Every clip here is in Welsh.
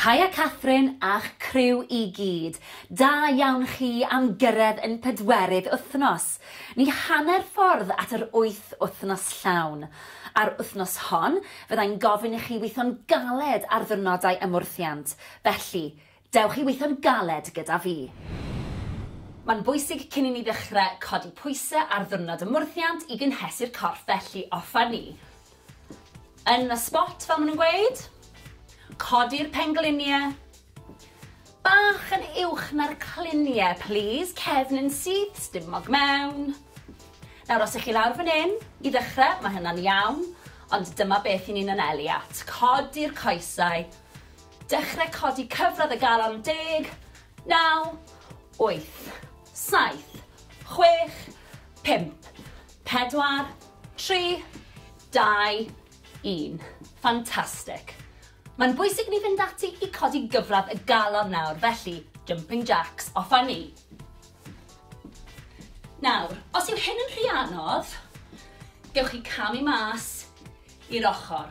Haia Catherine a'ch criw i gyd. Da iawn chi am gyrraedd yn pedwerydd wythnos. Ni hanner ffordd at yr wyth wythnos llawn. Ar wythnos hon, fyddai'n gofyn i chi weithio'n galed ar ddiwrnodau ymwrthiant, felly, Dewch i weithio'n galed gyda fi. Mae'n bwysig cyn i ni ddechrau codi pwysau ar ddiwrnod ymwrthiant i gynhesu'r corff felly offer ni yn y spot fel maen nhw'n gweud. Codi'r pengliniau bach yn uwch na'r cliniau plîs, cefn yn syth, stumog mewn. Nawr os ych chi lawr fan hyn i ddechrau mae hynna'n iawn ond dyma beth i ni'n anelu at. Codi'r coesau Dechrau codi cyfradd y galon, deg, naw, wyth, saith, chwech, pump, pedwar, tri, dau, un. Fantastic. Mae'n bwysig ni fynd ati i codi gyfradd y galon nawr, felly jumping jacks, off a ni. Nawr, os yw hyn yn rhy anodd, gewch chi camu mas i'r ochr.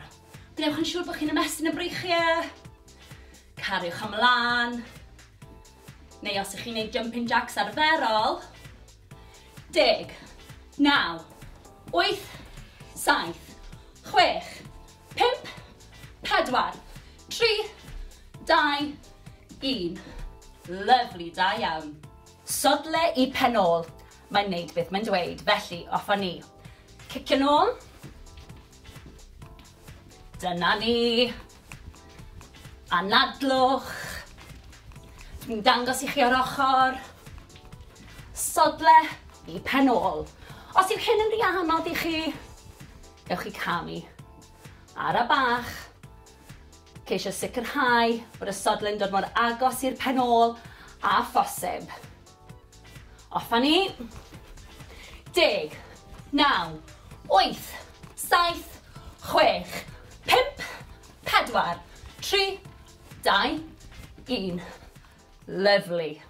Gwnewch yn siŵr bod chi'n ymestyn y breichiau. Cariwch am lan. Neu os ych chi'n gwneud jumping jacks arferol. Deg, naw, wyth, saith, chwech, pimp, pedwar, tri, dau, un. Lyflu, da iawn. Sodle i pen ôl. Mae'n neud beth mae'n dweud, felly off â ni. Cicio'n ôl. Dyna ni. Anadlwch. Dwi'n dangos i chi o'r ochr. Sodle i pen ôl. Os yw hyn yn rhy anodd i chi, ewch i camu. Ara bach. Ceisio sicrhau bod y sodle'n dod mor agos i'r pen ôl a phosib. Off a ni. Deg. Naw. Wyth. Saith. Chwech. Pump. Pedwar. Tri. Dau. Un. Lyfli.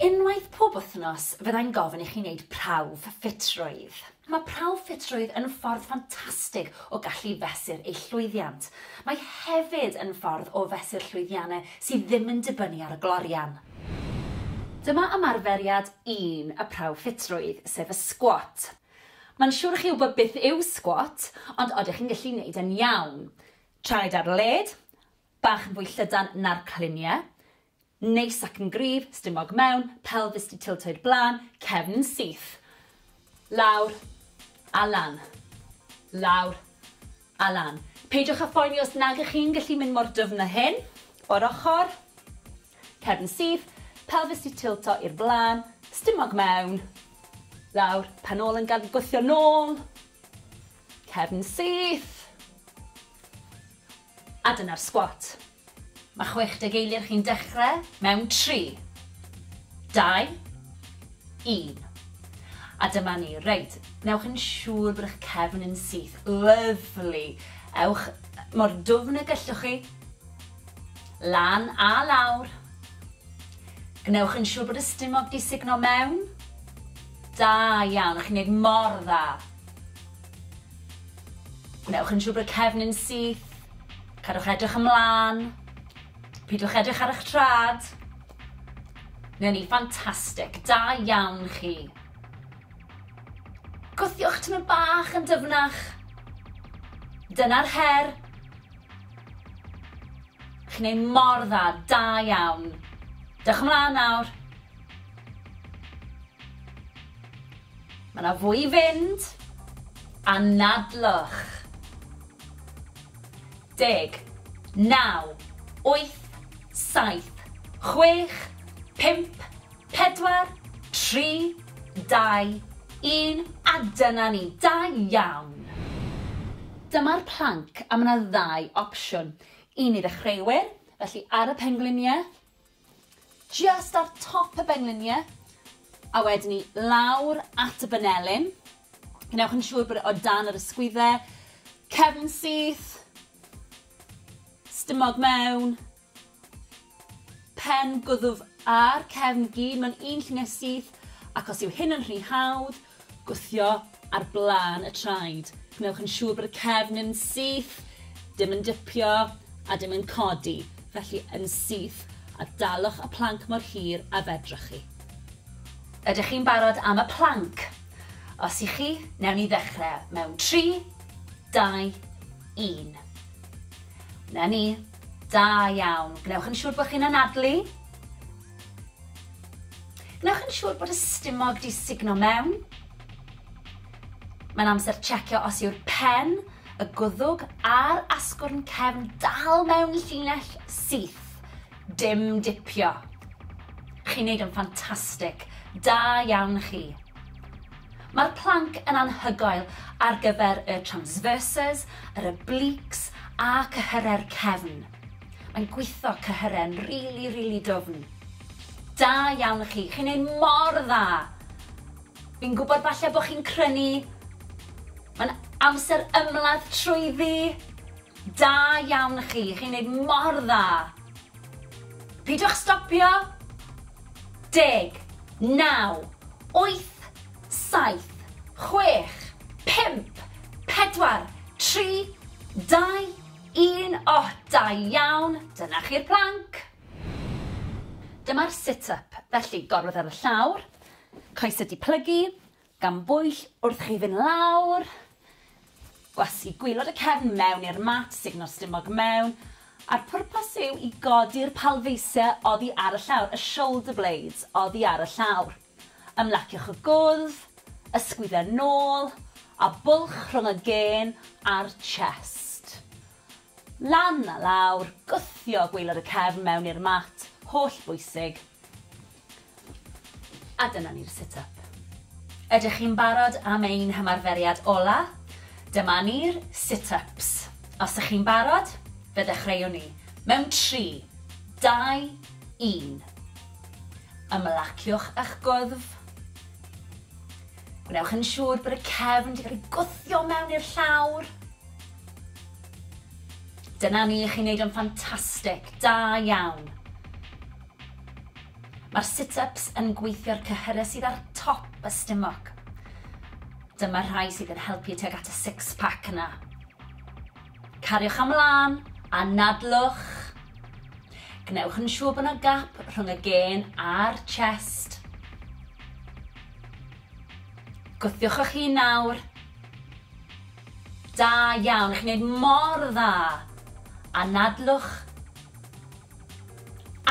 Unwaith pob wythnos fyddai'n gofyn i chi wneud prawf ffitrwydd. Mae prawf ffitrwydd yn ffordd ffantastig o gallu fesur eich llwyddiant. Mae hefyd yn ffordd o fesur llwyddiannau sydd ddim yn dibynnu ar y glorian. Dyma ymarferiad un y prawf ffitrwydd, sef y sgwat. Mae'n siwr i chi wybod beth yw sgwat, ond odych chi'n gallu neud e'n iawn? Traed ar led, bach yn fwy llydan na'r cliniau, Neis ac yn gryf, stumog mewn, pelfis 'di tiltio i'r blaen, cefn yn syth. Lawr a lan. Lawr a lan. Peidiwch â phoeni os nag ych chi'n gallu mynd mor dyfn â hyn. O'r ochr. Cefn yn syth, pelfis 'di tiltio i'r blaen, stumog mewn. Lawr, pen ôl yn gad gwthio nôl. Cefn yn syth. A dyna'r sgwat. Mae 60 eiliad chi'n dechrau mewn 3, 2, 1. A dyma ni. Reit, newch yn siŵr bod eich cefn yn syth. Lyfli. Ewch mor dwfn y gellwch chi. Lan a lawr. Gwnewch yn siŵr bod y stumog di sugno mewn. Da iawn, chi'n neud mor dda. Gwnewch yn siŵr bod y cefnyn syth. Cadwch edrych ymlaen. Pidwch edrych ar eich trad. Neu ni, ffantastig. Da iawn chi. Gwthiwch tymor bach yn dyfnach. Dyna'r her. Chi'n ei mor dda, da iawn. Dewch ymlaen nawr. Mae 'na fwy i fynd. Anadlwch. Deg. Naw. Wyth. Saith. Chwech. Pump. Pedwar. Tri. Dau. Un. A dyna ni. Da iawn! Dyma'r planc a mae 'na ddau opsiwn. Un i ddechreuwyr, felly ar y pengliniau, Jyst ar top y benglinie a wedyn 'ny lawr at y banelyn. Gwnewch yn siŵr bod e o dan yr ysgwydde. Cefn syth. Stumog mewn. Pen gwddf a'r cefn gyd mewn un llunie syth ac os yw hyn yn rhy hawdd Gwthio ar blaen y traed. Gwnewch yn siŵr bod y cefn yn syth, dim yn dipio a dim yn codi, felly yn syth, a dalwch y planc mor hir a fedrwch chi. Ydych chi'n barod am y planc? Os y'ch chi, newn ni ddechrau mewn tri, dau, un. 'Na ni. Da iawn. Gwnewch yn siŵr bod chi'n anadlu. Wnewch yn siŵr bod y stumog di sugno mewn. Mae'n amser checio os yw'r pen, y gwddwg a'r asgwrn cefn dal mewn llinell syth. Dim dipio. Chi'n neud yn ffantastig. Da iawn chi. Mae'r planc yn anhygoel ar gyfer y transverses, yr obliques a cyhyrau'r cefn. Mae'n gwitho cyhyren rili rili dwfn. Da iawn i chi, chi'n neud mor dda! Fi'n gwybod falle bod chi'n crynu, mae'n amser ymladd trwyddi! Da iawn i chi, chi'n neud mor dda! Pidwch stopio! Deg, naw, wyth, saith, chwech, pump, pedwar, tri, dau, Un oh da iawn! Dyna chi'r plank! Dyma'r sit up, felly gorwedd ar y llawr, coesau di plygu, gan bwyll wrth chi fynd lawr, gwasgu gwylod y cefn mewn i'r mat, sugno'r stumog mewn, a'r pwrpas yw i godi'r palfeisiau oddi ar y llawr, y shoulder blades oddi ar y llawr. Ymlaciwch y gwddf, ysgwyd a nôl, a bwlch rhwng y gên a'r chest. Lan a lawr, gwthio gwaelod y cefn mewn i'r mat, holl bwysig. A dyna ni'r sit up. Ydych chi'n barod am ein hymarferiad ola? Dyma ni'r sit ups. Os ych chi'n barod, fe ddechreuwn ni. Mewn tri, dau, un. Ymlaciwch â'ch gwddf. Gwnewch yn siŵr bod y cefn wedi cael ei gwthio mewn i'r llawr. Dyna ni, chi'n neud o'n ffantastig, da iawn. Mae'r sit-ups yn gweithio'r cyhyrau sydd ar top y stumog. Dyma'r rhai sydd yn helpu tuag at y six-pack yna. Cariwch am lân, anadlwch. Gwnewch yn siŵr bod yna gap rhwng y gên a'r chest. Gwthiwch eich hun nawr. Da iawn, chi'n gwneud mor dda. Anadlwch.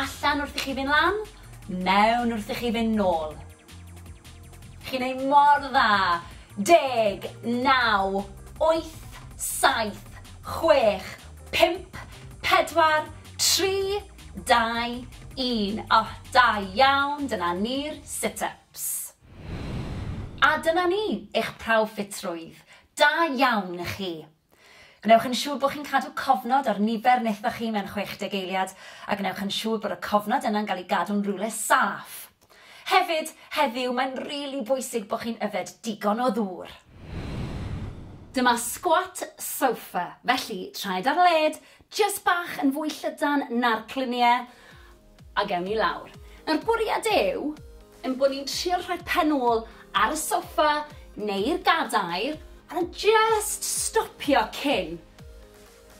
Allan wrth i chi fynd lan, mewn wrth i chi fynd nôl. Chi'n neud mor dda! Deg, naw, wyth, saith, chwech, pump, pedwar, tri, dau, un. O, da iawn, dyna ni'r sit-ups. A dyna ni, eich prawf ffitrwydd. Da iawn i chi. Gwnewch yn siŵr bod chi'n cadw cofnod ar nifer nethoch chi mewn 60 eiliad, a gwnewch yn siŵr bod y cofnod yna'n cael ei gadw'n rywle saff. Hefyd, heddiw, mae'n rili bwysig bod chi'n yfed digon o ddŵr. Dyma squat sofa, felly traed ar led, jyst bach yn fwy llydan na'r cluniau, A gewn ni lawr. Nawr bwriad yw ein bod ni'n trio rhoi pen ôl ar y soffa neu'r gadair a just stopio cyn.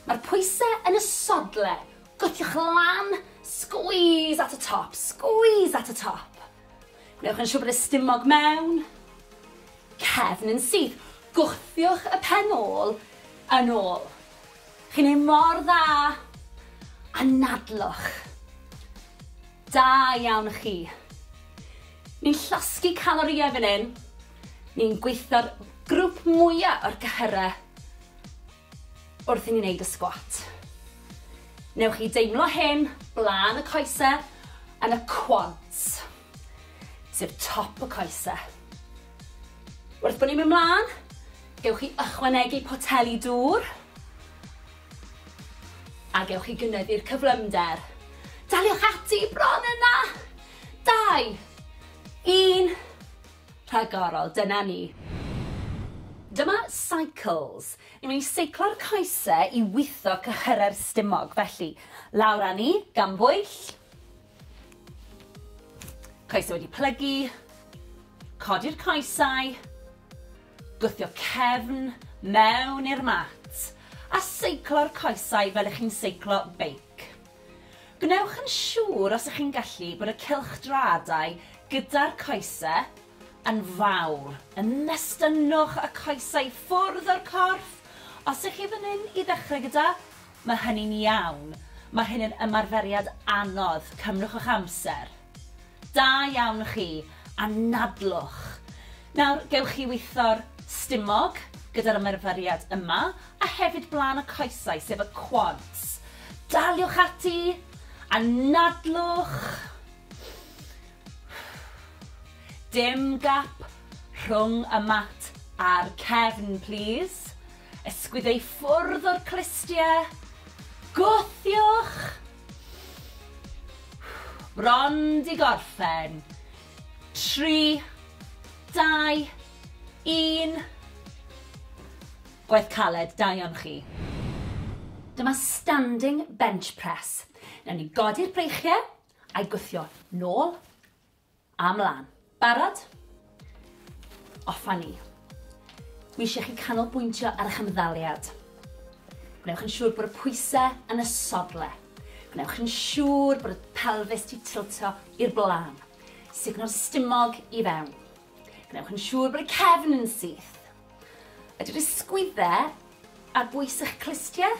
Mae'r pwysau yn y sodle, gwthiwch lan, squeeze at y top, squeeze at y top. Newch yn siŵr bod y stumog mewn, cefn yn syth, gwthiwch y pen ôl yn ôl. Chi'n neud mor dda! Anadlwch! Da iawn chi! Ni'n llosgi calorïau fan hyn, ni'n gweithio'r grwp mwya o'r cyhyrau wrth i ni neud y sgwat. Newch chi deimlo hyn blaen y coesau yn y quads. sef top y coese. Wrth bod ni'n mynd mlaen, gewch chi ychwanegu poteli dŵr a gewch chi gynyddu'r cyflymder. Daliwch ati bron yna! Dau, un, rhagorol, dyna ni. Dyma cycles. Ni'n mynd i seiclo'r coese i witho cyhyrau'r stumog, felly lawr â ni, gan bwyll, Coesau wedi plygu, codi'r coesau, gwthio cefn mewn i'r mat a seiclo'r coesau fel ych chi'n seiclo beic. Gwnewch yn siŵr os ych chi'n gallu bod y cylchdraadau gyda'r coesau yn fawr. Ymestynnwch y coesau ffwrdd o'r corff os ych chi fan hyn i ddechrau gyda Mae hynny'n iawn. Mae hyn yn ymarferiad anodd. Cymrwch eich amser. Da iawn chi. Anadlwch. Nawr, gewch chi weithio'r stumog gyda'r ymarferiad yma, a hefyd blaen y coesau, sef y quads. Daliwch ati. Anadlwch. Dim gap rhwng y mat a'r cefn, plîs. Ysgwyd ei ffwrdd o'r clustiau. Gwthiwch! Bron di gorffen. Tri, dau, un. Gwaith caled, da iawn chi. Dyma standing bench press. Newn ni godi'r breichiau a'i gwthio nôl. A mlan. Barod? Off a ni. Dwi eisiau chi canolbwyntio ar eich ymddaliad. Gwnewch yn siŵr bod y pwysau yn y sodle. Gwnewch yn siŵr bod y pelfis di tiltio i'r blaen. Sugno'r stumog i fewn. Gwnewch yn siŵr bod y cefn yn syth. Ydy'r ysgwyddau ar bwys eich clustiau?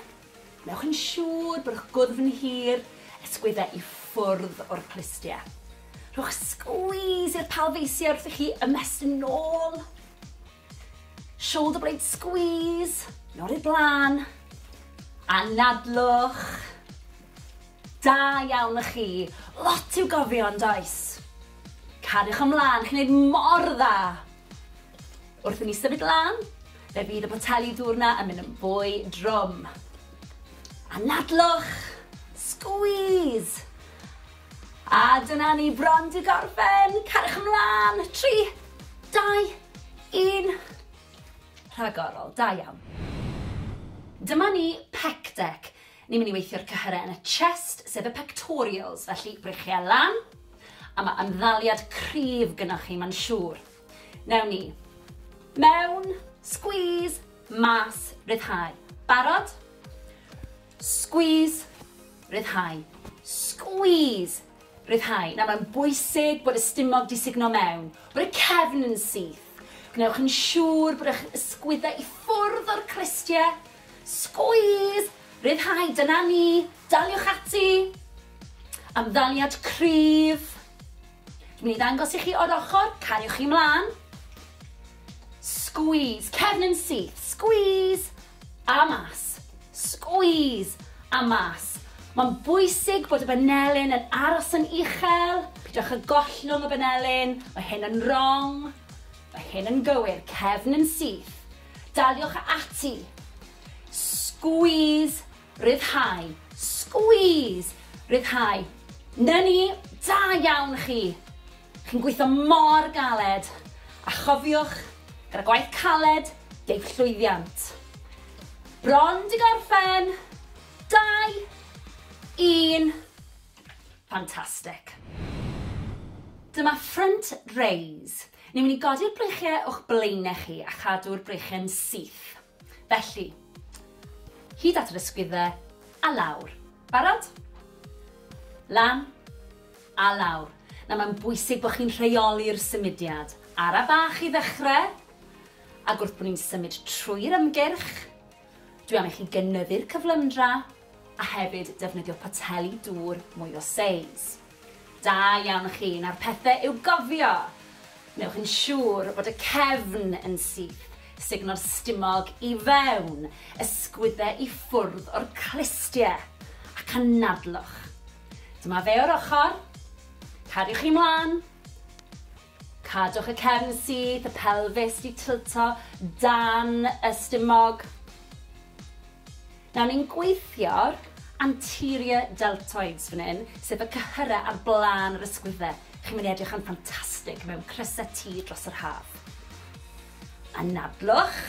Wnewch yn siŵr bod eich gwddf yn hir, ysgwyddau i ffwrdd o'r clustiau. Rhowch squeeze i'r palfeisiau wrth i chi ymestyn yn ôl. Shoulder blade squeeze, nôl i'r blaen. Anadlwch. Da iawn y chi. Lot i'w gofio yn does? Cariwch ymlaen, chi'n gwneud mor dda. Wrth i ni symud lan, fe fydd y poteli dŵr 'na yn mynd yn fwy drwm. Anadlwch! Squeeze! A dyna ni bron 'di gorffen! Cariwch ymlan! Tri, dau, un. Rhagorol, da iawn. Dyma ni pec deck. Ni'n mynd i weithio'r cyhyrau yn y chest, sef y pectorials, felly breichiau lan, a mae ymddaliad cryf gynnwch chi, mae'n siŵr. Newn ni. Mewn. Squeeze. Mas. Ryddhau. Barod? Squeeze. Ryddhau. Squeeze. Ryddhau. Nawr mae'n bwysig bod y stumog di sugno mewn, bod y cefn yn syth. Gwnewch yn siŵr bod eich ysgwyddau i ffwrdd o'r cristiau. Squeeze! Ryddhau, dyna ni. Daliwch ati. Ymddaliad cryf. Dwi'n mynd i ddangos i chi o'r ochr, cariwch chi mlaen. Squeeze, cefn yn syth, squeeze, a mas. Squeeze, a mas. Mae'n bwysig bod y banelyn yn aros yn uchel, pidwch y gollwng y banelyn, mae hyn yn wrong, mae hyn yn gywir, cefn yn syth. Daliwch ati. Squeeze Rhyddhau. Squeeze! Rhyddhau. 'Na ni! Da iawn chi! Chi'n gweithio mor galed! A chofiwch, gyda gwaith caled, deiff llwyddiant. Bron 'di gorffen! Dau! Un! Fantastic! Dyma front raise. Ni'n mynd i godi'r breichiau o'ch blaenau chi a chadw'r breichiau'n syth. Felly, hyd at yr ysgwyddau a lawr. Barod? Lan a lawr. Nawr mae'n bwysig bod chi'n rheoli'r symudiad. Ara bach i ddechrau, ac wrth bod ni'n symud trwy'r ymgyrch, dwi am i chi gynyddu'r cyflymdra, a hefyd defnyddio poteli dŵr mwy o seis. Da iawn chi, nawr pethe i'w gofio! Wnewch yn siŵr bod y cefn yn syth, sugno'r stumog i fewn, ysgwydde i ffwrdd o'r clustie, ac anadlwch. Dyma fe o'r ochr, cariwch chi mlan, Cadwch y cefn syth, y pelfis di tilto dan y stumog. Nawr ni'n gweithio'r anterior deltoids fan hyn, sef y cyhyrau ar blaen yr ysgwyddau. Chi'n mynd i edrych yn ffantastig mewn crysau T dros yr haf. Anadlwch.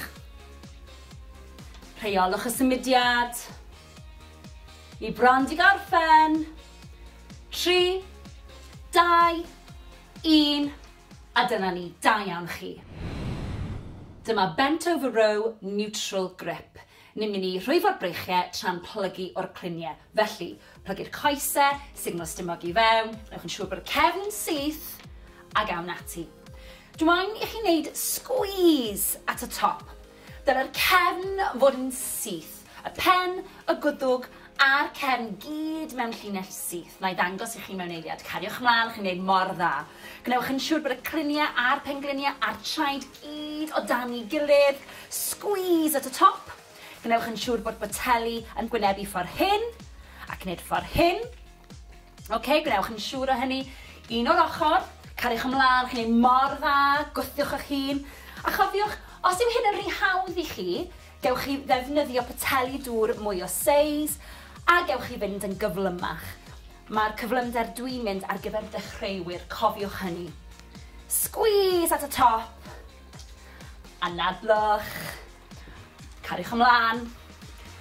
Rheolwch y symudiad. Ni bron di gorffen. Tri, dau, Un, a dyna ni, da iawn chi. Dyma Bent Over Row Neutral Grip. Ni'n mynd i rhwyfo'r breichiau tra'n plygu o'r cluniau. Felly, plygu'r coesau, signo stumog i fewn, newch yn siŵr bod y cefn yn syth, ac awn ati. Dw i'n i chi wneud squeeze at y top. Dylai'r cefn fod yn syth, y pen, y gwddwg a'r cefn gyd mewn llinell syth. Wna i ddangos i chi mewn eiliad. Cariwch ymlaen, chi'n gwneud mor dda. Gwnewch yn siŵr bod y criniau a'r pengliniau a'r traed gyd o dan ei gilydd. Squeeze at y top. Gwnewch yn siŵr bod boteli yn gwynebu ffordd hyn, ac wneud ffordd hyn. Ok, gwnewch yn siŵr o hynny. Un o'r ochr, cariwch ymlaen, chi'n ei mor dda, gwthiwch eich hun. A chofiwch, os yw hyn yn rhy hawdd i chi, gewch chi ddefnyddio poteli dŵr mwy o seis, a gewch chi fynd yn gyflymach. Mae'r cyflymder dwi'n mynd ar gyfer dechreuwyr, cofiwch hynny. Squeeze at y top, anadlwch. Cariwch ymlaen,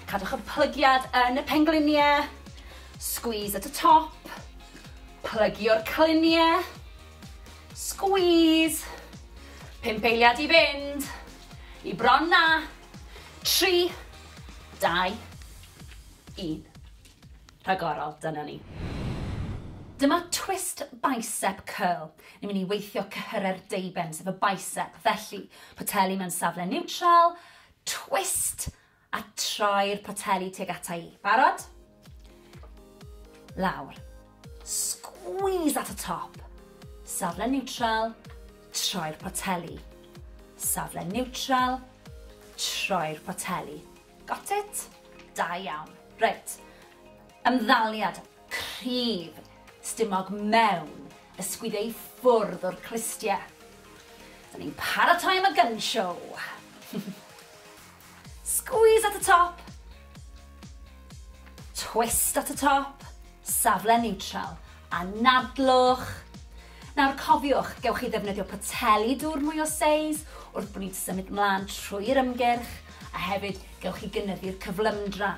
cadwch y plygiad yn y pengliniau, squeeze at y top, plygio'r cliniau, squeeze, pump eiliad i fynd, i bron na, tri, dau, un. rhagorol, dyna ni. Dyma twist bicep curl. Ni'n mynd i weithio cyhyrau'r deuben, sef y bicep. Felly, poteli mewn safle niwtral, twist, a troi'r poteli tuag ata i. Barod? Lawr. Squeeze at y top. Safle niwtral, troi'r poteli. Safle niwtral, troi'r poteli. Got it? Da iawn. Reit. Ymddaliad cryf stumog mewn ysgwyd ei ffwrdd o'r clustie. Da ni'n paratoi am y gun show. Squeeze at y top. Twist at y top. Safle neutral. Anadlwch. Nawr cofiwch, gewch chi ddefnyddio poteli dŵr mwy o seis wrth bod ni'n symud mlaen trwy'r ymgyrch, a hefyd gewch chi gynyddu'r cyflymdra.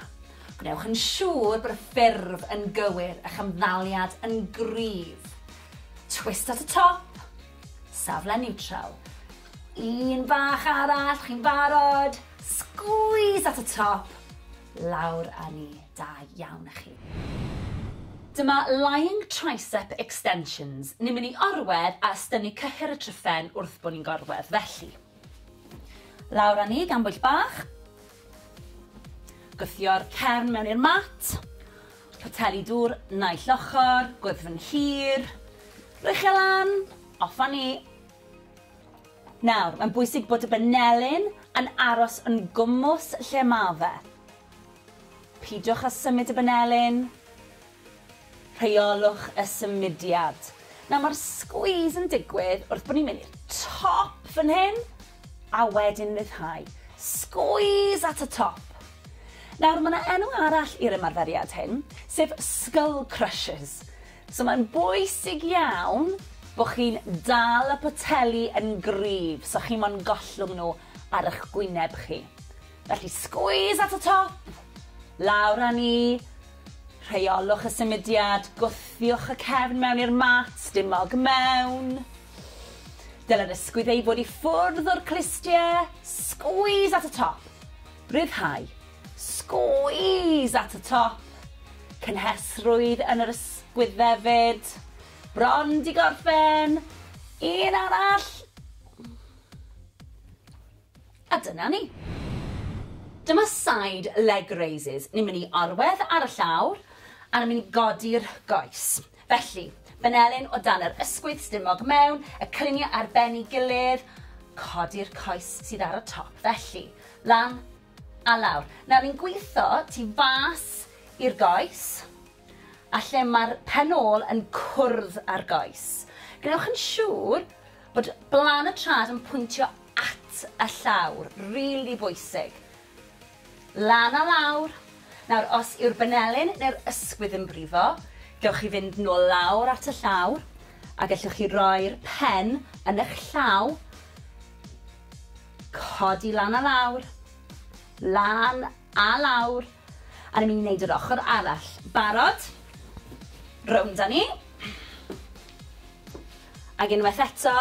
Gwnewch yn siŵr bod y ffurf yn gywir, a'ch ymddaliad yn gryf. Twist at y top, safle niwtral. Un bach arall, chi'n barod? Sgwîs at y top, lawr â ni. Da iawn a chi. Dyma Lying Tricep Extensions, ni'n mynd i orwedd a ystynnu cyhyr y tryphen wrth bo ni'n gorwedd, felly. Lawr a ni gan bwyll bach. Gwthio'r cefn mewn i'r mat. Poteli dŵr naill ochr, gwddfn hir. Rwy'ch e lan, off a ni. Nawr, mae'n bwysig bod y banelyn yn aros yn gwmws lle ma fe. Peidiwch â symud y banelin. Rheolwch y symudiad. Nawr mae'r squeeze yn digwydd wrth bod ni'n mynd i'r top fan hyn a wedyn ryddhau. Squeeze at y top. Nawr mae yna enw arall i'r ymarferiad hyn, sef skull crushes. So mae'n bwysig iawn bod chi'n dal y poteli yn gryf so chi mo'n gollwng nhw ar eich gwyneb chi. Felly squeeze at y top, lawr â ni, rheolwch y symudiad, gwthiwch y cefn mewn i'r mat, dim mog mewn. Dylai'r ysgwydd ei fod i ffwrdd o'r clustiau, squeeze at y top, rhyddhau, squeeze at y top, cynhesrwydd yn yr ysgwydd hefyd, bron di gorffen, un arall, A dyna ni. Dyma side leg raises. Ni'n mynd i orwedd ar y llawr a ni'n mynd i godi'r goes. Felly, benelin o dan yr ysgwydd stumog mewn, y cylunie ar ben i gilydd, codi'r coes sydd ar y top. Felly, lan a lawr. Nawr ni'n gwitho tu fas i'r goes a lle mae'r pen ôl yn cwrdd â'r goes. Gwnewch yn siŵr bod blan y trad yn pwyntio at y llawr, rili bwysig. Lan a lawr. Nawr, os yw'r banelyn neu'r ysgwydd yn brifo, gewch chi fynd nôl lawr at y llawr, a gellwch chi roi'r pen yn eich llaw, codi lan a lawr, lan a lawr, a ni'n mynd i wneud yr ochr arall. Barod? Rownd â ni. Ac unwaith eto,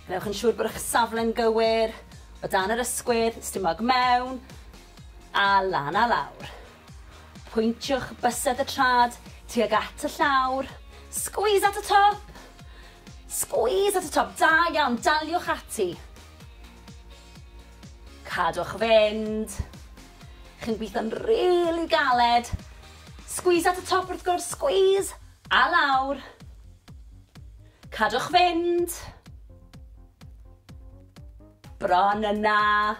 gwnewch yn siŵr bod eich safle'n gywir, o dan yr ysgwydd, stumog mewn, a lan a lawr. Pwyntiwch bysedd y trad tuag at y llawr, squeeze at y top! Squeeze at y top, da iawn, daliwch ati. Cadwch fynd. Chi'n gweithio'n rili galed. Squeeze at y top wrth gwrs, squeeze! A lawr. Cadwch fynd. Bron yna.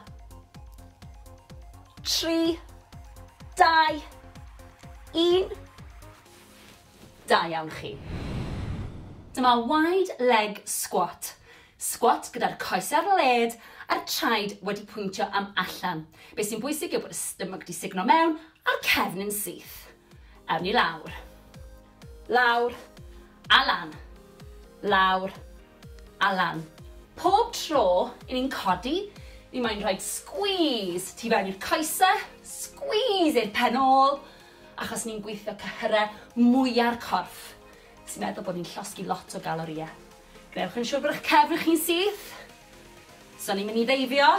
Tri. Dau. Un. Da iawn chi. Dyma wide leg squat. Squat gyda'r coes ar led a'r traed wedi pwyntio am allan. Be sy'n bwysig yw bod y stomach di signo mewn a'r cefn yn syth. Awn ni lawr. Lawr. A lan. Lawr. A lan. Pob tro i ni'n codi, ni moyn rhoid squeeze tu fewn i'r coese, squeeze i'r pen ôl, achos ni'n gweithio cyhyrau mwya'r corff, sy'n meddwl bod ni'n llosgi lot o galorïau. Gwnewch yn siwr bod eich cefn chi'n syth. Os o'n i'n mynd i ddeifio,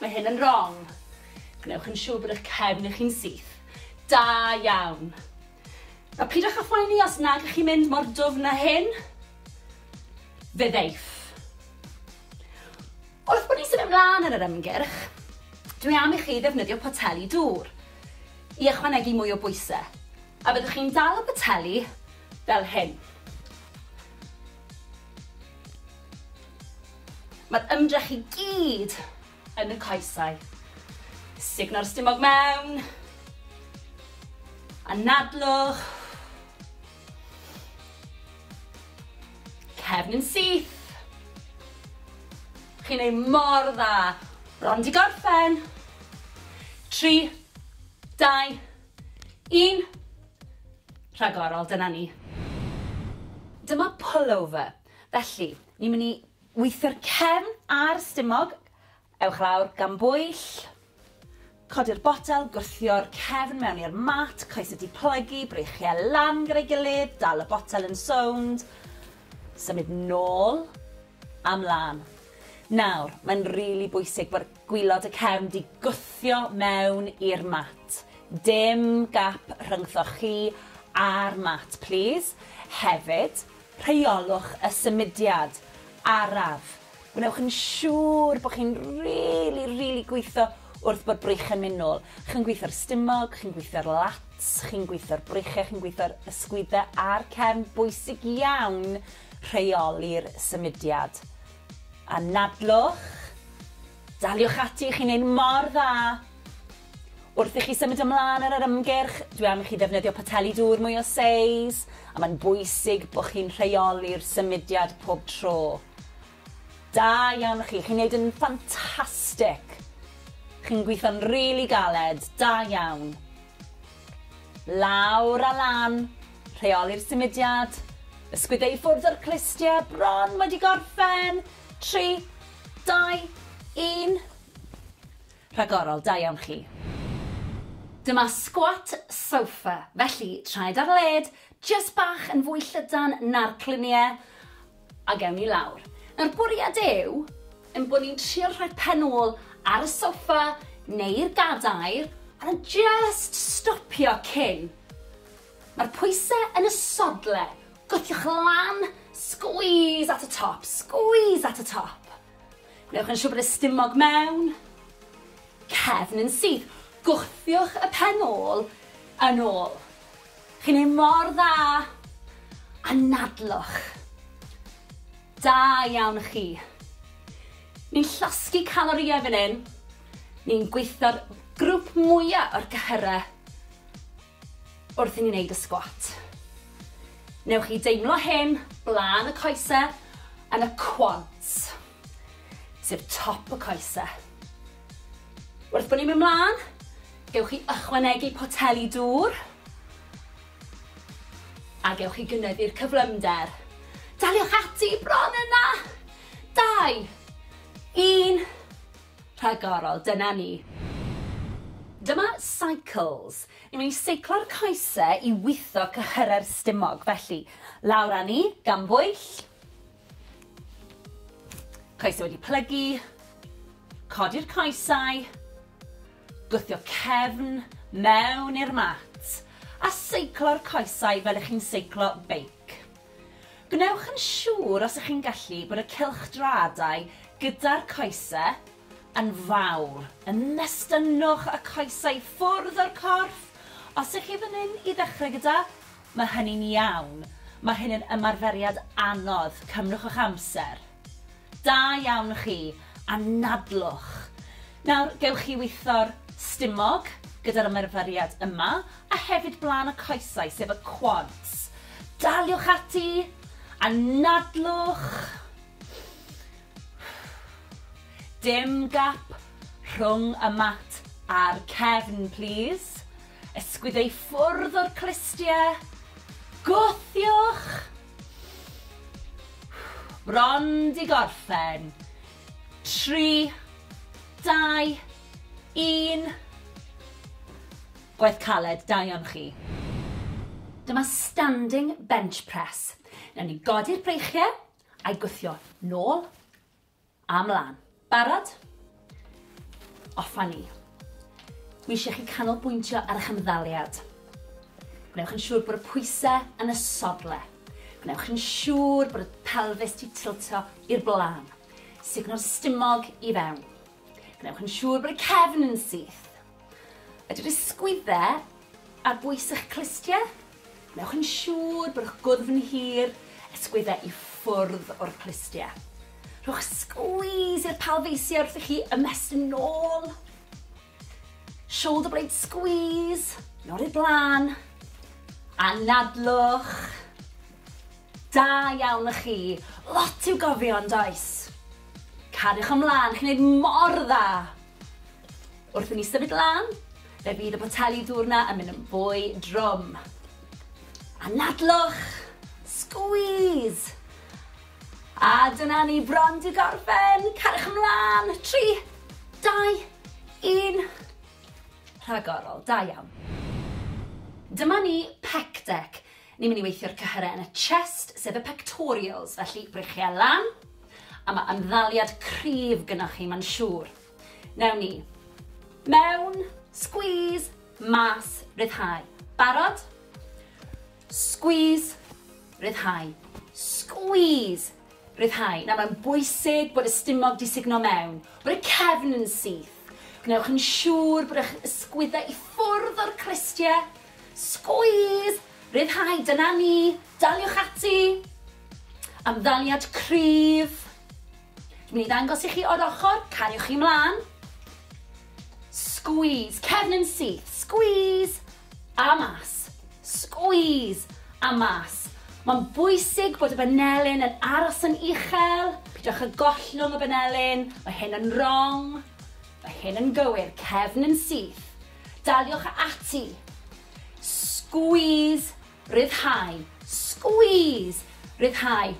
mae hyn yn rong. Gwnewch yn siwr bod eich cefn chi'n syth. Da iawn. A pidwch â phoeni os nag ych chi'n mynd mor dwfn â hyn. Fe ddeiff. Wrth bod ni'n symud ymlaen yn yr ymgyrch, dwi am i chi ddefnyddio poteli dŵr i ychwanegu mwy o bwysau, a byddwch chi'n dal y poteli fel hyn. Mae'r ymdrech i gyd yn y coesau. Sugno'r stumog mewn. Anadlwch. Cefn yn syth. Chi'n ei mor dda. Bron di gorffen. 3, 2, Yn rhagorol, dyna ni. Dyma pullover. Felly, ni'n mynd i weithio'r cefn a'r stumog. Ewch lawr, gan bwyll. Codi'r botel, gwthio'r cefn mewn i'r mat, coesau di plygu, breichiau lan gyda'i gilydd, dal y botel yn sownd. Symud nôl a mlaen. Nawr, mae'n rili bwysig bod Gwylod y cefn di gwthio mewn i'r mat. Dim gap rhyngthoch chi a'r mat plîs. Hefyd, rheolwch y symudiad araf. Gwnewch yn siŵr bod chi'n rili, rili gwitho wrth bod brych yn mynd nôl. Chi'n gwitho'r stumog, chi'n gwitho'r lats, chi'n gwitho'r brychau, chi'n gwitho'r ysgwyddau a'r cefn. Bwysig iawn rheoli'r symudiad. Anadlwch, daliwch ati, chi'n neud mor dda! Wrth i chi symud ymlân ar yr ymgyrch, dwi am i chi ddefnyddio poteli dŵr mwy o seis, a mae'n bwysig bod chi'n rheoli'r symudiad pob tro. Da iawn chi, chi'n neud yn ffantastic! Chi'n gweithio'n rili galed, da iawn! Lawr a lan, rheoli'r symudiad, ysgwyd e i ffwrdd o'r clustiau, bron wedi gorffen! Tri, dau, un. Rhagorol, da iawn chi. Dyma squat sofa, felly traed ar led, jyst bach yn fwy llydan na'r cluniau, A gewn ni lawr. Nawr bwriad yw ein bod ni'n trio rhoi pen ôl ar y soffa neu'r gadair a just stopio cyn. Mae'r pwysau yn y sodle. Gwthiwch lan, squeeze at y top, squeeze at y top. Gwnewch yn siŵr bod y stumog mewn, cefn yn syth. Gwthiwch y pen ôl yn ôl. Chi'n neud mor dda! Anadlwch! Da iawn chi! Ni'n llosgi calorïau fan hyn, ni'n gweithio'r grwp mwya o'r cyhyrau wrth i ni neud y sgwat. Newch chi deimlo hyn blaen y coesau yn y quads. sef top y coese. Wrth bod ni'n mynd mlaen, gewch chi ychwanegu poteli dŵr a gewch chi gynyddu'r cyflymder. Daliwch ati bron yna! Dau, un, rhagorol, dyna ni. Dyma cycles. Ni'n mynd i seiclo'r coese i witho cyhyrau'r stumog, felly lawr â ni, gan bwyll, Coesau wedi plygu, codi'r coesau, gwthio cefn mewn i'r mat a seiclo'r coesau fel ych chi'n seiclo beic. Gwnewch yn siŵr os ych chi'n gallu bod y cylchdraadau gyda'r coesau yn fawr. Ymestynnwch y coesau ffwrdd o'r corff os ych chi fan hyn i ddechrau gyda Mae hynny'n iawn. Mae hyn yn ymarferiad anodd. Cymrwch eich amser. Da iawn chi. Anadlwch. Nawr, gewch chi witho'r stumog gyda'r ymarferiad yma, a hefyd blaen y coesau, sef y quads. Daliwch ati. Anadlwch. Dim gap rhwng y mat a'r cefn, plîs. Ysgwyd ei ffwrdd o'r clustiau. Gwthiwch! Bron di gorffen. Tri, dau, un. Gwaith caled, da iawn chi. Dyma standing bench press. Newn ni godi'r breichiau a'i gwthio nôl. A mlan. Barod? Off a ni. Dwi eisiau chi canolbwyntio ar eich ymddaliad. Gwnewch yn siŵr bod y pwysau yn y sodle. Gwnewch yn siŵr bod y pelfis di tiltio i'r blaen. Sugno'r stumog i fewn. Gwnewch yn siŵr bod y cefn yn syth. Ydy'r ysgwyddau ar bwys eich clustiau? Wnewch yn siŵr bod eich gwddf yn hir, ysgwyddau i ffwrdd o'r clustiau. Rhowch sgwîs i'r palfeisiau wrth i chi ymestyn yn ôl. Shoulder blade squeeze, yn ôl i'r blaen. Anadlwch. Da iawn y chi. Lot i'w gofio yn does? Cariwch ymlaen, chi'n gwneud mor dda. Wrth i ni symud lan, fe fydd y poteli dŵr 'na yn mynd yn fwy drwm. Anadlwch! Squeeze! A dyna ni bron di gorffen! Cariwch ymlaen! 3, 2, 1. Rhagorol, da iawn. Dyma ni pec deck. Ni'n mynd i weithio'r cyhyrau yn y chest, sef y pectorials, felly breichiau lan, a mae ymddaliad cryf gynnwch chi, mae'n siŵr. Newn ni. Mewn. Squeeze. Mas. Ryddhau. Barod? Squeeze. Ryddhau. Squeeze. Ryddhau. Nawr mae'n bwysig bod y stumog di sugno mewn, bod y cefn yn syth. Gwnewch yn siŵr bod eich ysgwyddau i ffwrdd o'r cristiau. Squeeze! Ryddhau, dyna ni. Daliwch ati. Amddaliad cryf. Dwi'n mynd i ddangos i chi o'r ochr, cariwch chi mlaen. Squeeze, cefn yn syth, squeeze, a mas, squeeze, a mas. Mae'n bwysig bod y banelyn yn aros yn uchel, pidwch y gollwng y banelyn, mae hyn yn wrong, mae hyn yn gywir, cefn yn syth. Daliwch ati. Squeeze Rhyddhau. Squeeze! Rhyddhau.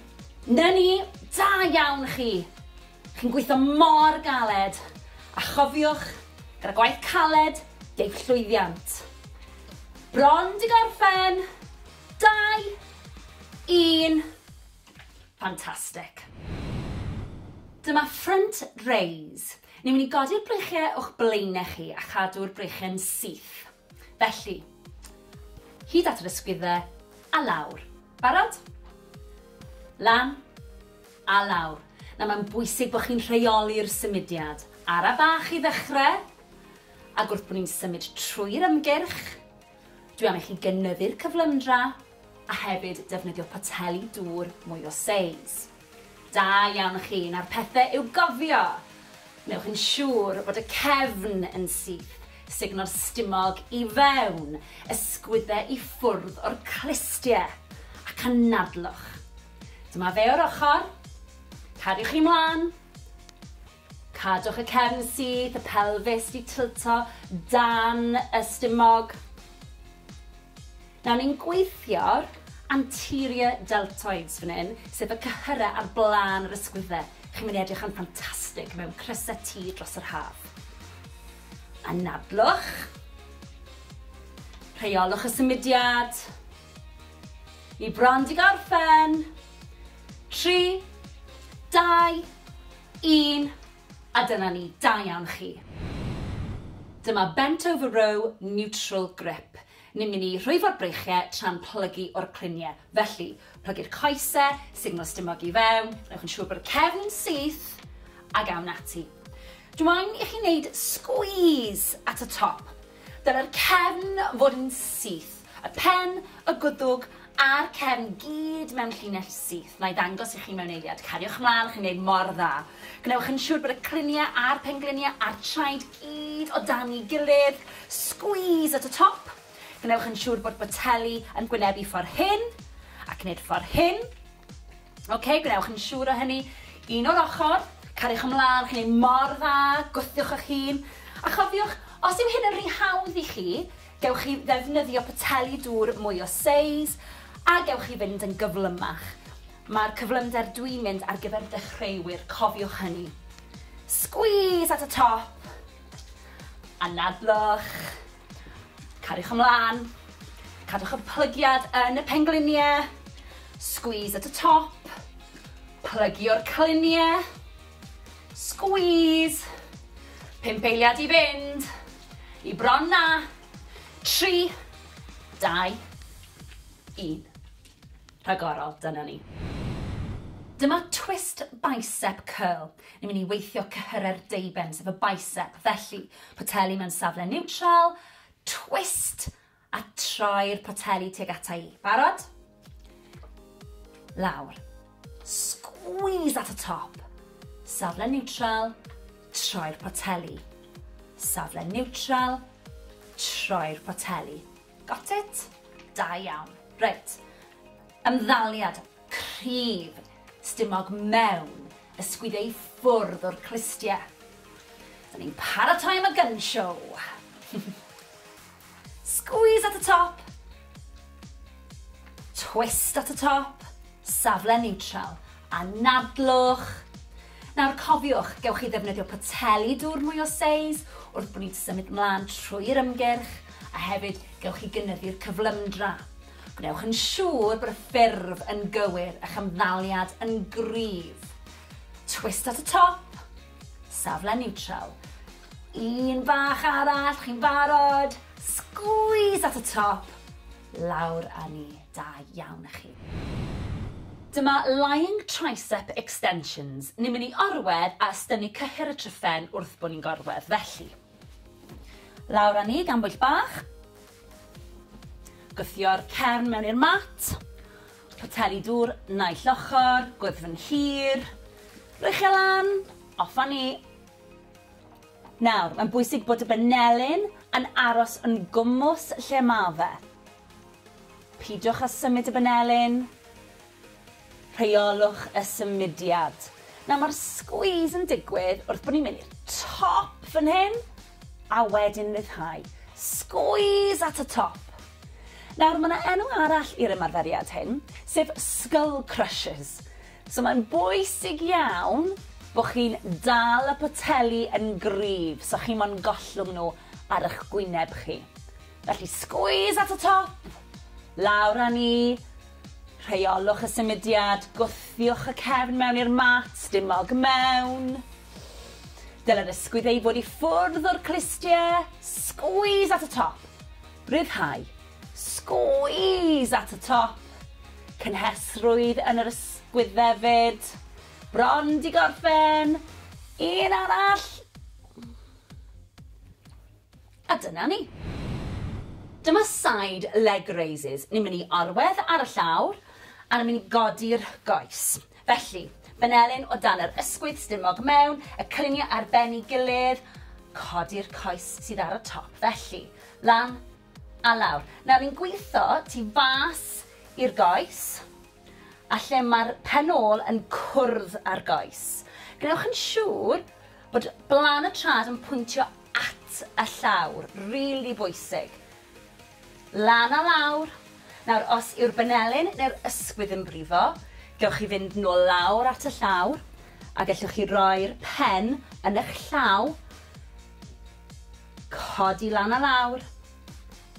'Na ni! Da iawn chi! Chi'n gweithio mor galed! A chofiwch, gyda gwaith caled, deiff llwyddiant. Bron 'di gorffen! Dau! Un! Fantastic. Dyma front raise. Ni'n mynd i godi'r breichiau o'ch blaenau chi a chadw'r breichiau'n syth. Felly, hyd at yr ysgwyddau, a lawr. Barod? Lan, a lawr. Nawr mae'n bwysig bod chi'n rheoli'r symudiad. Ara bach i ddechrau, ac wrth bod ni'n symud trwy'r ymgyrch, dwi am i chi gynyddu'r cyflymdra, a hefyd defnyddio poteli dŵr mwy o seis. Da iawn chi, nawr pethe i'w gofio! Wnewch yn siŵr bod y cefn yn syth, sugno'r stumog i fewn, ysgwydde i ffwrdd o'r clustie, ac anadlwch. Dyma fe o'r ochr. Cariwch chi mlan. Cadwch y cefn syth, y pelfis 'di tilto dan y stumog. Nawr ni'n gweithio'r anterior deltoids fan hyn, sef y cyhyrau ar blaen yr ysgwyddau. Chi'n mynd i edrych yn ffantastig mewn crysau T dros yr haf. Anadlwch. Rheolwch y symudiad. Ni bron 'di gorffen. Tri, dau, Un, a dyna ni, da iawn chi. Dyma bent over row neutral grip. Ni'n mynd i rhwyfo'r breichiau tra'n plygu o'r cluniau. Felly, plygu'r coesau, signal stumog i fewn, gwnewch yn siŵr bod y cefn yn syth, ac awn ati. Dw i'n i chi wneud squeeze at y top. Dylai'r cefn fod yn syth, y pen, y gwddwg a'r cefn gyd mewn llinell syth. Wna i ddangos i chi mewn eiliad. Cariwch mlaen, chi'n gwneud mor dda. Gwnewch yn siŵr bod y cliniau a'r pengliniau a'r traed gyd o dan ei gilydd. Squeeze at y top. Gwnewch yn siŵr bod boteli yn gwynebu ffordd hyn ac wneud ffordd hyn. Ok, gwnewch yn siŵr o hynny. Un o'r ochr, cariwch ymlaen, chi'n ei mor dda, gwthiwch eich hun. A chofiwch, os yw hyn yn rhy hawdd i chi, gewch chi ddefnyddio poteli dŵr mwy o seis, a gewch chi fynd yn gyflymach. Mae'r cyflymder dwi'n mynd ar gyfer dechreuwyr, cofiwch hynny. Squeeze at y top, anadlwch. Cariwch ymlaen. Cadwch y plygiad yn y pengliniau. Squeeze at y top. Plygio'r cliniau. Squeeze. Pump eiliad i fynd. I bron na. Tri. Dau. Un. rhagorol, dyna ni. Dyma twist bicep curl. Ni'n mynd i weithio cyhyrau'r deuben, sef y bicep, felly poteli mewn safle niwtral, twist a troi'r poteli tuag ata i. Barod? Lawr. Squeeze at y top. Safle niwtral, troi'r poteli. Safle niwtral, troi'r poteli. Got it? Da iawn. Reit. Ymddaliad cryf stumog mewn ysgwyd ei ffwrdd o'r clustie. Da ni'n paratoi am y gun show. Squeeze at y top. Twist at y top. Safle neutral. Anadlwch. Nawr cofiwch, gewch chi ddefnyddio poteli dŵr mwy o seis wrth bod ni'n symud mlaen trwy'r ymgyrch, a hefyd gewch chi gynyddu'r cyflymdra. Gwnewch yn siŵr bod y ffurf yn gywir, a'ch ymddaliad yn gryf. Twist at y top, safle niwtral. Un bach arall, chi'n barod? Sgwîs at y top, lawr â ni. Da iawn i chi. Dyma Lying Tricep Extensions. Ni'n mynd i orwedd a ystynnu cyhyr y tryphen wrth bo ni'n gorwedd, felly. Lawr â ni gan bwyll bach. Gwthio'r cefn mewn i'r mat. Poteli dŵr naill ochr, gwddfn hir. Rhoi chi e lan, off â ni. Nawr, mae'n bwysig bod y benelin yn aros yn gwmws lle ma fe. Peidiwch â symud y banelin. Rheolwch y symudiad. Nawr mae'r squeeze yn digwydd wrth bod ni'n mynd i'r top fan hyn a wedyn ryddhau. Squeeze at y top. Nawr mae yna enw arall i'r ymarferiad hyn, sef skull crushes. So mae'n bwysig iawn bod chi'n dal y poteli yn gryf so chi mo'n gollwng nhw ar eich gwyneb chi. Felly squeeze at y top, lawr â ni, rheolwch y symudiad, gwthiwch y cefn mewn i'r mat, dim mog mewn. Dylai'r ysgwydd ei fod i ffwrdd o'r clustie, squeeze at y top, rhyddhau, squeeze at y top, cynhesrwydd yn yr ysgwydd hefyd, bron di gorffen, un arall, A dyna ni. Dyma side leg raises. Ni'n mynd i orwedd ar y llawr a ni'n mynd i godi'r goes. Felly, benelin o dan yr ysgwydd stumog mewn, y cylunie ar ben i gilydd, codi'r coes sydd ar y top. Felly, lan a lawr. Nawr ni'n gwitho tu fas i'r goes a lle mae'r pen ôl yn cwrdd â'r goes. Gwnewch yn siŵr bod blan y trad yn pwyntio at y llawr, rili bwysig. Lan a lawr. Nawr, os yw'r banelyn neu'r ysgwydd yn brifo, gewch chi fynd nôl lawr at y llawr, a gellwch chi roi'r pen yn eich llaw, codi lan a lawr,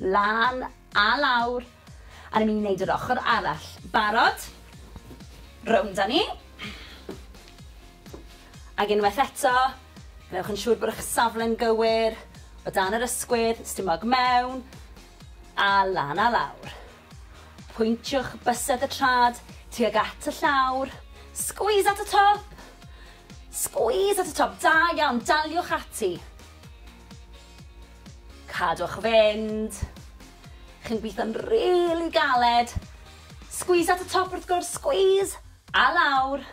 lan a lawr, a ni'n mynd i wneud yr ochr arall. Barod? Rownd â ni. Ac unwaith eto, gwnewch yn siŵr bod eich safle'n gywir, o dan yr ysgwydd, stumog mewn, a lan a lawr. Pwyntiwch bysedd y trad tuag at y llawr, squeeze at y top! Squeeze at y top, da iawn, daliwch ati. Cadwch fynd. Chi'n gweithio'n rili galed. Squeeze at y top wrth gwrs, squeeze! A lawr.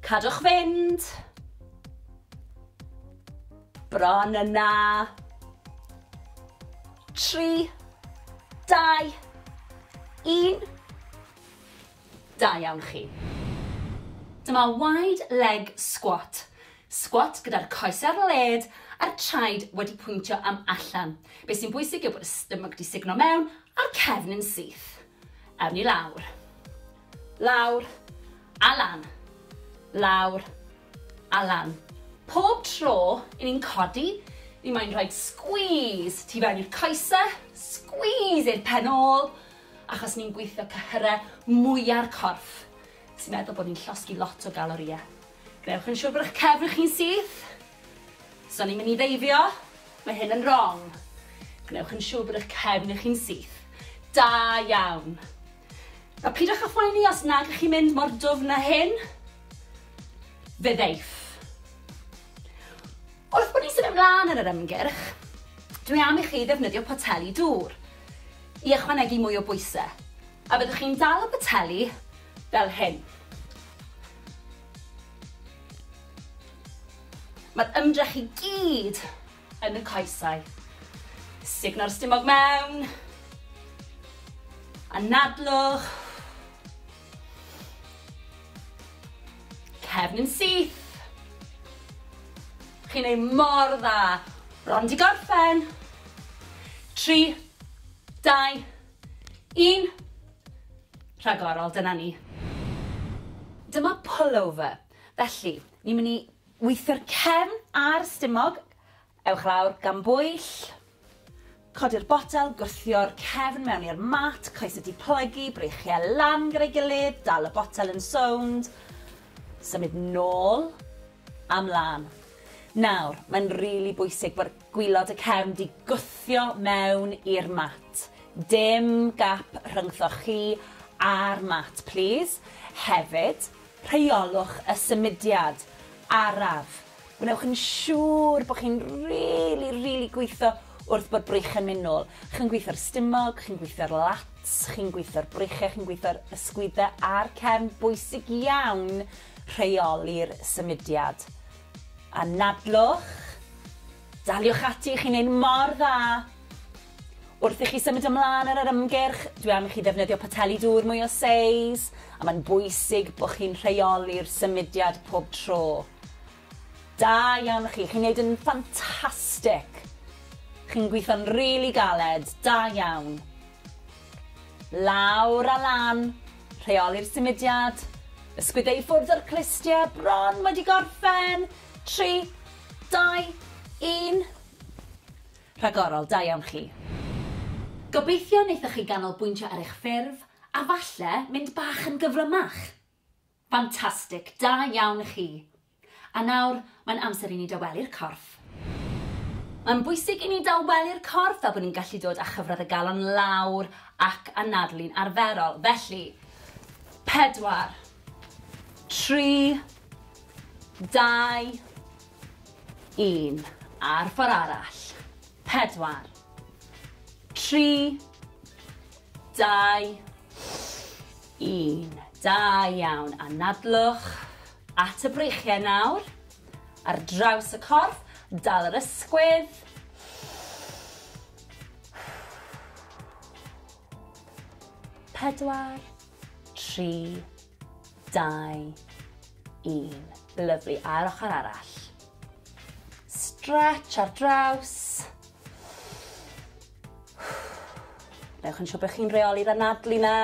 Cadwch fynd. Bron yna. Tri. Dau. Un. Da iawn chi. Dyma wide leg squat. Squat gyda'r coes ar led a'r traed wedi pwyntio am allan. Be sy'n bwysig yw bod y stomach di signo mewn a'r cefn yn syth. Awn ni lawr. Lawr. A lan. Lawr. A lan. Pob tro i ni'n codi, ni moyn rhoid squeeze tu fewn i'r coese, squeeze i'r pen ôl, achos ni'n gweithio cyhyrau mwya'r corff, sy'n meddwl bod ni'n llosgi lot o galorïau. Gwnewch yn siwr bod eich cefn chi'n syth. Os o'n i'n mynd i ddeifio, mae hyn yn wrong. Gwnewch yn siwr bod eich cefn chi'n syth. Da iawn. A pidwch â phoeni os nag ych chi'n mynd mor dwfn â hyn. Fe ddeiff. Wrth bod ni'n symud ymlaen yn yr ymgyrch, dwi am i chi ddefnyddio poteli dŵr i ychwanegu mwy o bwysau, a byddwch chi'n dal y poteli fel hyn. Mae'r ymdrech i gyd yn y coesau. Sugno'r stumog mewn. Anadlwch. Cefn yn syth. Chi'n ei mor dda. Bron di gorffen. 3, 2, Yn rhagorol, dyna ni. Dyma pullover. Felly, ni'n mynd i weithio'r cefn a'r stumog. Ewch lawr, gan bwyll. Codi'r botel, gwthio'r cefn mewn i'r mat, coesau di plygu, breichiau lan gyda'i gilydd, dal y botel yn sownd. Symud nôl a mlaen. Nawr, mae'n rili bwysig bod Gwylod y cefn di gwthio mewn i'r mat. Dim gap rhyngthoch chi a'r mat plîs. Hefyd, rheolwch y symudiad araf. Gwnewch yn siŵr bod chi'n rili, rili gwitho wrth bod brych yn mynd nôl. Chi'n gwitho'r stumog, chi'n gwitho'r lats, chi'n gwitho'r breichiau, chi'n gwitho'r ysgwyddau a'r cefn. Bwysig iawn rheoli'r symudiad. Anadlwch, daliwch ati, chi'n neud mor dda! Wrth i chi symud ymlân ar yr ymgyrch, dwi am i chi ddefnyddio poteli dŵr mwy o seis, a mae'n bwysig bod chi'n rheoli'r symudiad pob tro. Da iawn chi, chi'n neud yn ffantastic! Chi'n gweithio'n rili galed, da iawn! Lawr a lan, rheoli'r symudiad, ysgwyd e i ffwrdd o'r clustiau, bron wedi gorffen! Tri, dau, un. Rhagorol, da iawn chi. Gobeithio wnaethoch chi ganolbwyntio ar eich ffurf a falle mynd bach yn gyflymach. Ffantastig! Da iawn chi! A nawr, mae'n amser i ni dawelu'r corff. Mae'n bwysig i ni dawelu'r corff fel bod ni'n gallu dod â chyfradd y galon lawr ac anadlu'n arferol. Felly, pedwar, tri, dau, un. A'r ffordd arall. Pedwar, tri, Dau, un. Da iawn. Anadlwch at y breichiau nawr. Ar draws y corff, dal yr ysgwydd. Pedwar, tri, dau, un. Lyflu. A'r ochr arall. Stretch ar draws. Newch yn siŵr bod chi'n reoli'r anadlu na.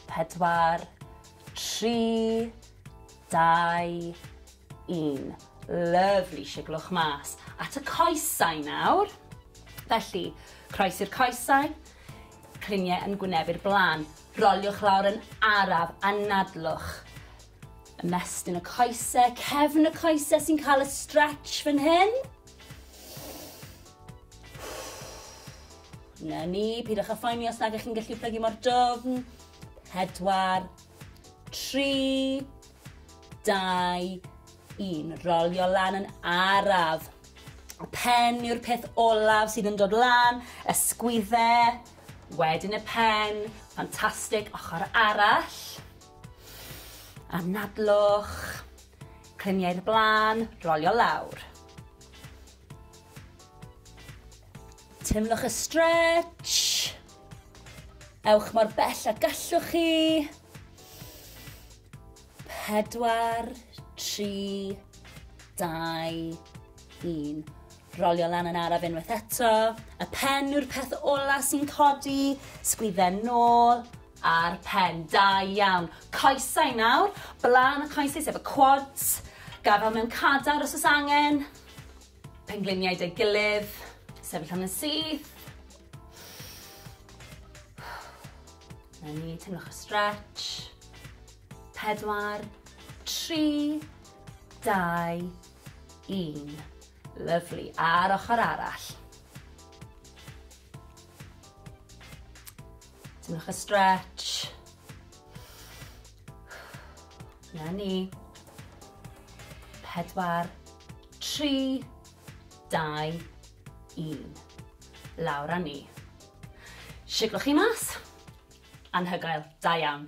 Pedwar, tri, dau, un. Lyfli, siglwch mas. At y coesau nawr. Felly, croes i'r coesau, cliniau yn gwynebu'r blaen. Roliwch lawr yn araf, anadlwch. Ymestyn y coesau, cefn y coesau sy'n cael y stretch fan hyn. Na ni, pidwch â phoeni os nag ych chi'n gallu plygu mor dofn. Pedwar, tri, dau, un. Rolio lan yn araf. Y pen yw'r peth olaf sydd yn dod lan, ysgwydde, wedyn y pen, ffantastig, ochr arall. Anadlwch, cliniau'r blaen, rolio lawr. Teimlwch y stretch. Ewch mor bell a gallwch chi. Pedwar, tri, dau, un. Rolio lan yn araf unwaith eto. Y pen yw'r peth ola sy'n codi. Sgwydden nôl a'r pen. Da iawn. Coesau nawr. Blaen y coesau sef y quads. Gafel mewn cadar os oes angen. Pengliniau deu gilydd, sefyll am yn syth. Na ni, teimlwch y stretch. Pedwar, tri, dau, un. Lyflu, a'r ochr arall. Teimlwch y stretch. Na ni. Pedwar, tri, dau, un. Lawr a ni. Siglwch chi mas. Anhygoel. Da iawn.